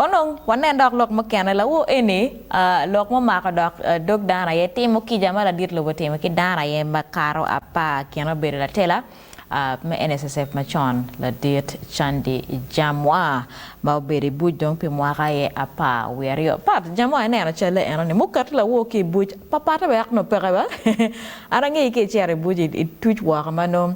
Onongo wanen dok lok mukene, lawo eni lok mumako dok dog dano aye timo kica ma ladit lobo otimo ki dano aye makato apar kine obedo latela me NSSF macon ladit Candi Jamwa ma obedo i buc dong pi mwaka aye apar wiye aryo pat Jamwa ineno calle eno ni muket lawo ki i buc papate wek nongo peke ba an angeyi ka icito i buc ituc woko ma nongo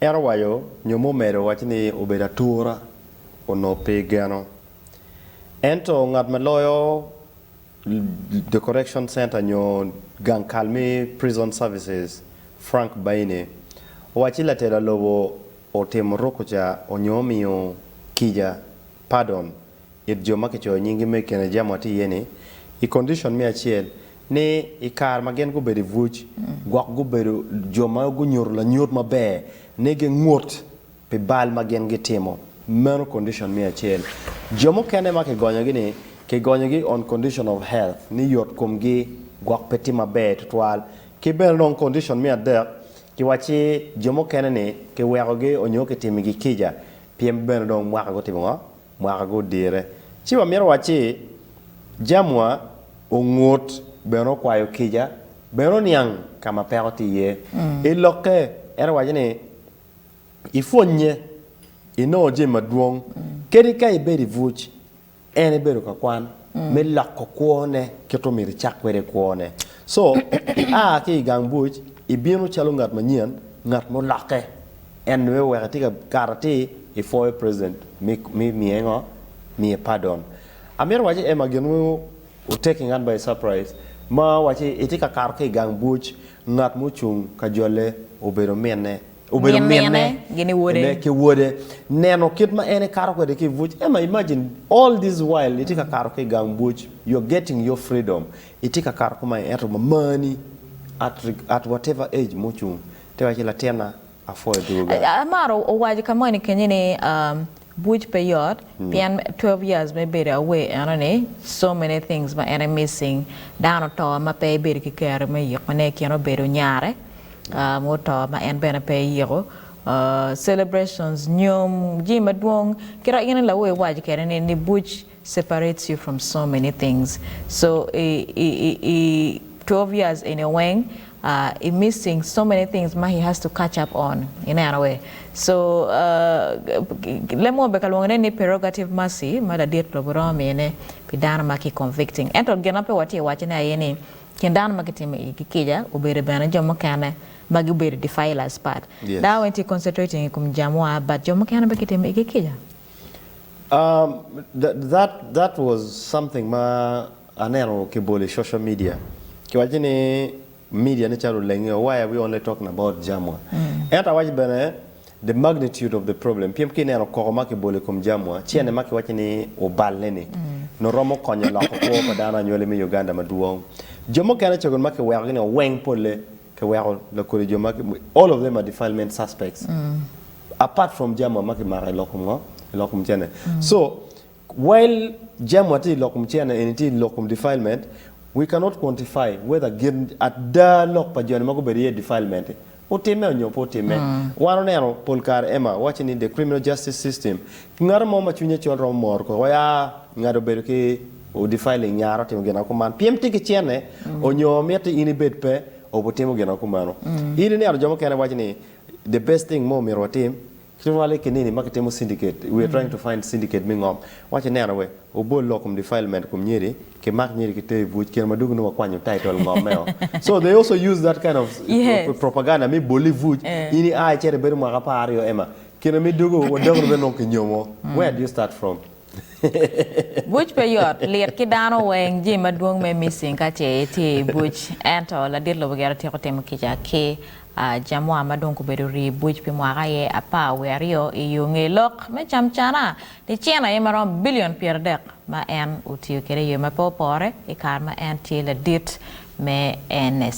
En owaco nyo me omedo wacci ni obedo atura onongo pe geno. Ento ngat ma loyo the correction center nyo gang kal me prison services Frank Baine owaci latela lobo otimo rukuca onyo omiyo kica pardon, it jo ma kicoyo nyinggi me i kine jami watye iye-ni, i condition me acel, ni i kare ma gin gubedo i buc, gwok gubedo jo ma gunyuto lanyut maber ni gingut pi bal ma gin gitimo. Meno condition me acel. Jo mukene ma kigonyogi-ni, kigonyogi on condition of health, ni yot komgi gwok pe tye maber tutwal. Ki bene dong condition me adek, kiwacci jo mukene-ni kiwekogi onyo kitimo igi kica, Pyem bene dong mwaka gutimo ngo? Mwaka gudire. Ci wa mito wacci jamwa ongut bene okwayo kica bene oniang ka ma peko tye iye. I lokke en owaco ni ipwonye inongo jami madwong kadi ka ibedo ibuc En ebedo ka kwan me loko kwone kit omyero icak kwede kwone. So, ia ki i gang buc, ibino calo ngat manyen, ngat mulokke. En nongo iweko itye ka kato atir, ipwoyo president me me miye ngo? Miye pardon. Amito wac ni Emma gin weng o taking an by surprise ma waci itye ka kato ki i gang buc, ngat mucung ka jole obedo minne, Obedo minne, ginne ki wode. Neno kit ma en ekato kwede ki i buc. Emma, imagine, all this while itye ka kato ki i gang buc, you're getting your freedom, itye ka kato kumae ento mamani at whatever age mucung te wacci latinna apwoyo dwoga. Amaro owaco ka moni kenyo ni. Buc pe yot pien twelve years me bedo away enoni so many things ma en missing dano oto ma pe ibedo ki kero me yiko ne ikin obedo nyare mo oto ma en bene pe iyiko celebrations nyom jami madwong kit ma in lawe iwaco kede ni buc separates you from so many things so i i i twelve years eni weng i missing so many things ma he has to catch up on i neno wee so lemo beka lwongo ne ni prerogative mercy ma ladit lobo romo miyo ne pi dano ma ki convicting ento gin ma pe watye i wace ne aye ni kin dano ma ki timo i gi kica obedo bene jo mukene ma gi bedo defilers but dano weng tye concentrating i kom jami wa but jo mukene bene ki timo i gi kica. That was something ma aneno kibolo i social media kiwaco ni media ne calo olenge why are we only talking about jamwa ento awaco bene the magnitude of the problem pien ka ineno koko ma kibolo i kom jamwa cene ma kiwaco ni oballe ni nongo romo konyo loko kwo pa dano anywali me Uganda madwong jo mukene cogen ma kiwekogi ni oweng polle Ki weko lakodi jo ma ki, all of them are defilement suspects apart from jamwa ma ki mako i lok kom ngo? I lok kom cene. So, while jamwa tye i lok kom cene eni tye i lok kom defilement, we cannot quantify whether gin ada lok pa joni ma gubedo iye defilement-ti otimme onyo pe otimme. Wan oneno pol kare Emma wacci ni the criminal justice system, ngato mo ma cwinye col romo mor koko ya ngado bedo ki. Odifai ling nyara otimo gin ma kuman pien tye ki cene, onyo mitte in ibed pe obu timo gin ma kumeno. In ineno jo mukene waco ni the best thing ma omyero watim ki rwal i kinini ma kitimo syndicate, we are trying to find syndicate me ngom, waco ineno we obol lok kom defilement kom nyiri, ki mak nyiri ki ter i buc kine ma dong nongo wakwanyo title ngom meo. So they also use that kind of Yes. propaganda me boli i buc, Eh. in i a icito ibedo mwaka apar aryo ema kine ma idwogo wa dogoni bene nongo ki nyomo, where do you start from? Buc pe yot, lit ki dano weng, jami madwong me missing ka ce itye i buc. Ento ladit lobo gire tyeko timo kica ki jamuwa ma dong gubedo rii i buc pi mwaka aye apar wiye aryo i yo ngeye lok me camcana ni cene aye maromo bilion pyeradek ma en otiyo kwede i yo ma pe opore i kare ma en tye ladit me NSA.